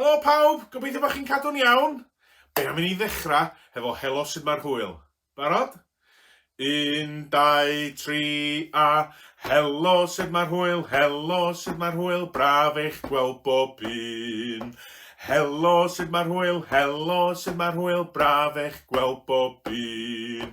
Helo pawb, gobeithio bod chi'n cadw'n iawn. Be am i ni ddechrau hefo helo sut mae'r hwyl. Barod? Un, dau, tri, a... Helo, sut mae'r hwyl? Helo, sut mae'r hwyl? Braf eich gweld bob un. Helo, sut mae'r hwyl? Helo, sut mae'r hwyl? Braf eich gweld bob un.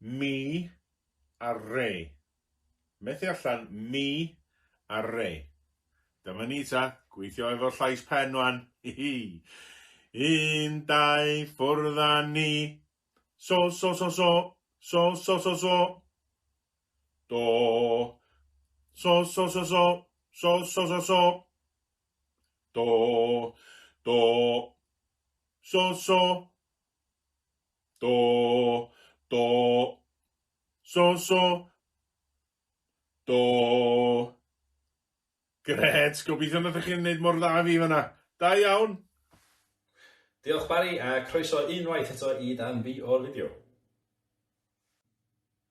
Mi ar re. Methu allan, mi ar re. Dyma ni ta, gweithio efo'r llais pen rwan. Hihi. Un, dau, ffwrdd a ni. So, so, so, so. So, so, so, so. Do. So, so, so, so. So, so, so, so. Do. Do. So, so. Do, do, so, so. Do. Gret, gobeithio nad ydych chi'n gwneud mor dda fi fanna. Da iawn! Diolch Barry a croeso unwaith eto i dan fi o'r fideo.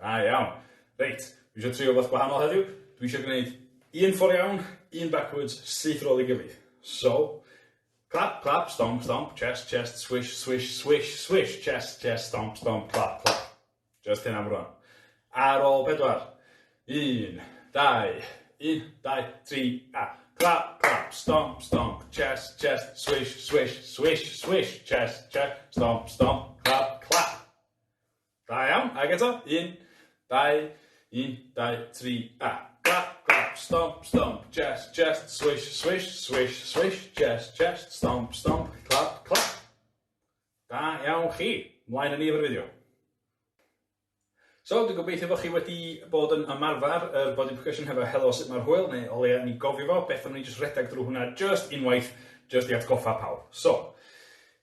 Da iawn. Reit, dwi eisiau trio rhywbeth gwahanol heddiw. Dwi eisiau gwneud un ffordd iawn, un backwards, syth rôl i gilydd. So, clap, clap, stomp, stomp, chest, chest, swish, swish, swish, swish, chest, chest, stomp, stomp, clap, clap. Just hyn am rwan. Ar ôl pedwar. Un, dau, un, dau, tri, a. Clap, clap, stomp, stomp, chest, chest, swish, swish, swish, swish, chest, chest, stomp, stomp, clap, clap. Da iawn, ag eto, un, dau, un, dau, tri, a. Clap, clap, stomp, stomp, chest, chest, swish, swish, swish, swish, chest, chest, stomp, stomp, clap, clap. Da iawn chi, mlaen yn ni efo'r fideo. So, dwi'n gobeithio bod chi wedi bod yn ymarfer yr body percussion hefo helo sut mae'r hwyl, neu o leia ni gofio fo, beth am ni jyst rhedeg drwy hwnna just unwaith, just i atgoffa pawb. So,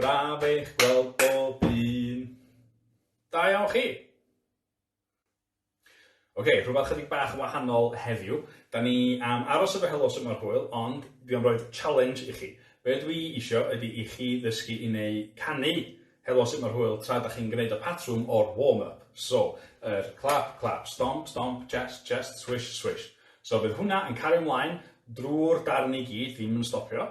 Braf eich gweld bob un. Da iawn chi! Ok, rhywbeth chydig bach yn wahanol heddiw. Da ni am aros efo helo sut mae'r hwyl, ond dwi am roi'r challenge i chi. Be dwi isio ydy i chi ddysgu i neu canu helo sut mae'r hwyl tra da chi'n gwneud y patrwm o'r warm-up. So, yr clap, clap, stomp, stomp, chest, chest, swish, swish. So bydd hwnna yn cario mlaen drwy'r darn i gyd, ddim yn stopio.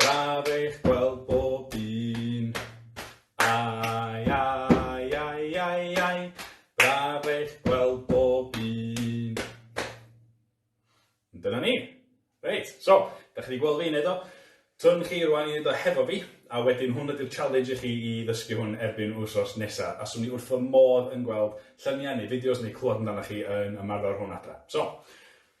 Braf eich gweld bob un. Ai, ai, ai, ai, ai, braf eich gweld bob un. Dyna ni. Reit, so, da chi wedi gweld fi wneud o. Twn chi rwan i wneud o hefo fi, a wedyn hwn ydy'r challenge i chi i ddysgu hwn erbyn wsos nesa, a swn i wrth fy modd yn gweld lluniau neu fideos neu clywed amdanoch chi yn ymarfer hwn adra. So,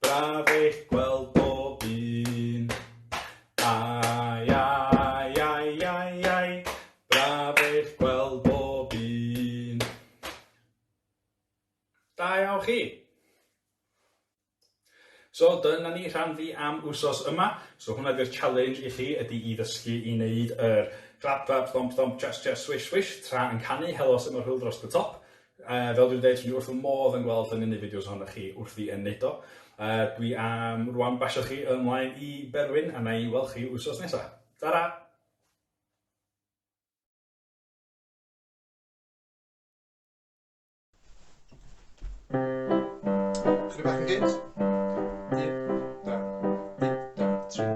Braf eich gweld bob un. Ai, ai, ai, ai, ai, braf eich gweld bob un. Da iawn chi! So dyna ni rhan fi am wsos yma. So hwnna di'r challenge i chi ydy i ddysgu i wneud yr clap clap thomp thomp chest chest swish swish tra yn canu helo sut mae'r hwyl dros y top. Yy fel dwi'n deud dwi wrth fy modd yn gweld hynny'n y fideos ohonoch chi wrth i yn neud o. Yy dwi am rwan basio chi ymlaen i Berwyn a na'i weld chi wsos nesa. Tara! Chydig bach yn gynt. Un, da. Un, da, tri,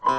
a...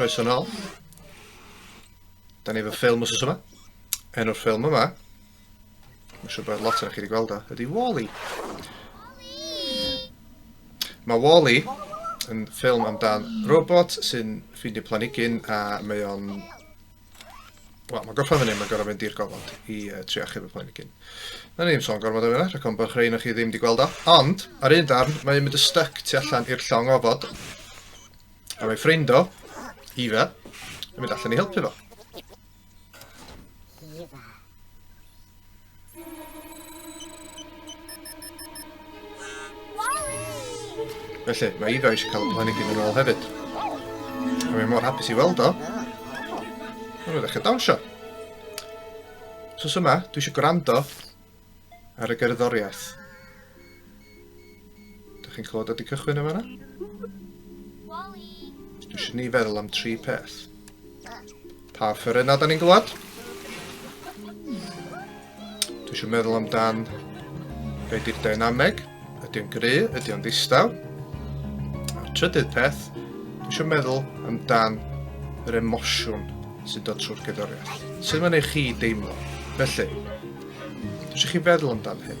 Croeso nôl. Da ni efo ffilm os oes yma. Enw'r ffilm yma, mae'n siŵr bod lot o'n chi wedi gweld o, ydy Wally. Mae Wally yn ffilm amdan robot sy'n ffeindio planigyn a mae o'n Wel, mae gorffan fan hyn, mae'n gorau fynd i'r gofod i uh, tri achub y planigyn. Na ni'n sôn gormod o fyna, rhaid o'n bach rhain o'ch chi ddim wedi gweld o. Ond, ar un darn, mae yn mynd y styc tu allan i'r llong ofod. A mae ffrind o, Eva, yn mynd allan i helpu fo. Felly, mae Eva eisiau cael y planigyn yn ôl hefyd. A mae mor hapus i weld o. Mae'n rhaid eich dawnsio. Sos yma, dwi eisiau gwrando ar y gerddoriaeth. Dych chi'n clywed wedi cychwyn yn fanna? Dwi eisiau ni feddwl am tri peth. Pa ffyryn da ni'n glywed? Dwi eisiau meddwl amdan be di'r dynameg. Ydy o'n gry? Ydy o'n ddistaw? A'r trydydd peth, dwi eisiau meddwl amdan yr emosiwn sy'n dod trwy'r gyddoriaeth. Sut mae'n ei chi deimlo? Felly, dwi eisiau chi feddwl amdan hyn.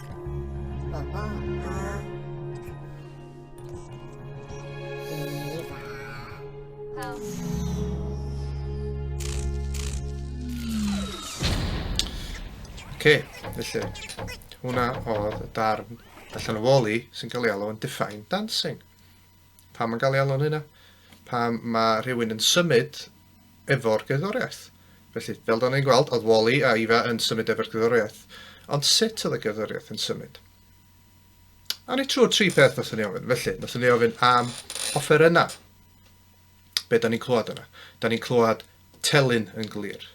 Oce, okay, felly, hwnna oedd y darn allan o woli sy'n cael ei alw yn Define Dancing. Pam yn cael ei alw'n hynna? Pam mae rhywun yn symud efo'r gerddoriaeth? Felly, fel da ni'n gweld, oedd Wally a Ifa yn symud efo'r gerddoriaeth. Ond sut oedd y gerddoriaeth yn symud? A ni trwy'r tri peth nath ni ofyn. Felly, nath ni ofyn am offerynnau. Be da ni'n clywed yna? Da ni'n clywed telyn yn glir.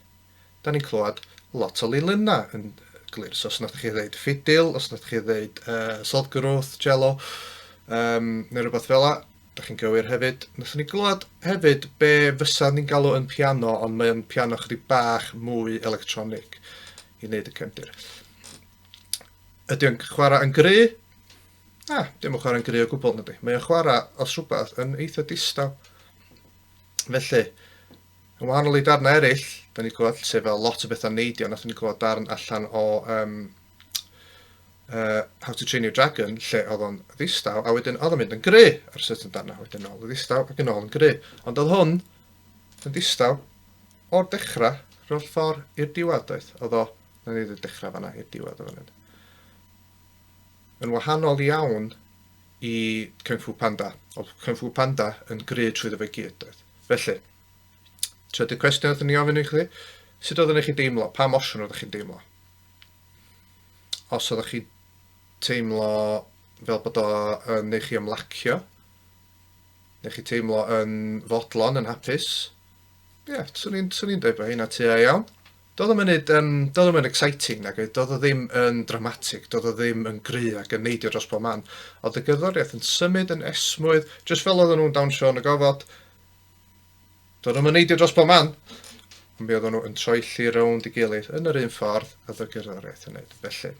Da ni'n clywed lot o lilynna yn glir. So os nathoch chi ddeud ffidil, os nathoch chi ddeud uh, soddgrwth, cello, um, neu rhywbeth fel la, da chi'n gywir hefyd. Nathon ni glywed hefyd be fysa ni'n galw yn piano, ond mae'n piano chydig bach mwy electronig i wneud y cefndir. Ydy o'n chwarae yn gry? Na, dim yn chwarae'n gry o gwbl, nadi. Mae o'n chwarae, os rhywbeth, yn eitha distaw. Felly, Yn wahanol i darnau eraill, da ni wedi clywed lle fel lot o bethau neidio, nath ni clywed darn allan o um, uh, How to Train Your Dragon, lle oedd o'n ddistaw, a wedyn oedd o'n mynd yn gry ar sut yn darnau, wedyn ôl yn ddistaw ac yn ôl yn gry. Ond oedd hwn yn ddistaw o'r dechrau rholl ffordd i'r diwedd, doedd? Oedd o, na ni ddweud dechrau fanna i'r diwedd o fan hyn. Yn wahanol iawn i Kung Fu Panda. Oedd Kung Fu Panda yn gry trwy fe gyd, doedd. Felly, trydydd cwestiwn oedd ni ofyn i chi, sut oedd yn chi deimlo? Pa emosiwn oedd chi'n deimlo? Os oedd chi teimlo fel bod o yn eich i ymlacio, neu chi teimlo yn fodlon, yn hapus, ie, yeah, swn i'n dweud bod hynna tua iawn. Do'dd o munud yym do'dd o'm yn exciting nag oedd, do'dd o ddim yn dramatic, do'dd o ddim yn gry ac yn neidio dros bob man, o'dd y gerddoriaeth yn symud yn esmwyth, jyst fel oedden nhw'n dawnsio yn y gofod. Do'dd o'm yn neidio dros bob man, ond mi oedden nhw yn troelli rownd i gilydd yn yr un ffordd a oedd y gerddoriaeth yn neud. Felly,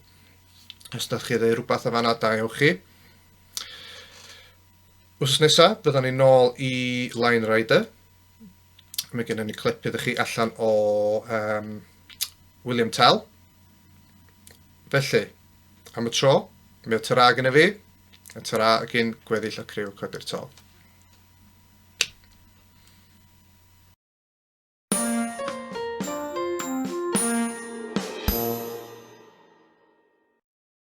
os da chi ddeu rhywbeth o fanna, da ewch chi. Wsos nesa, byddan ni'n nôl i Line Rider, mae gennym ni clip iddo chi allan o um, William Tell. Felly, am y tro, mi o tyra gyda fi, a tyra gyn gweddill y criw codi'r tol.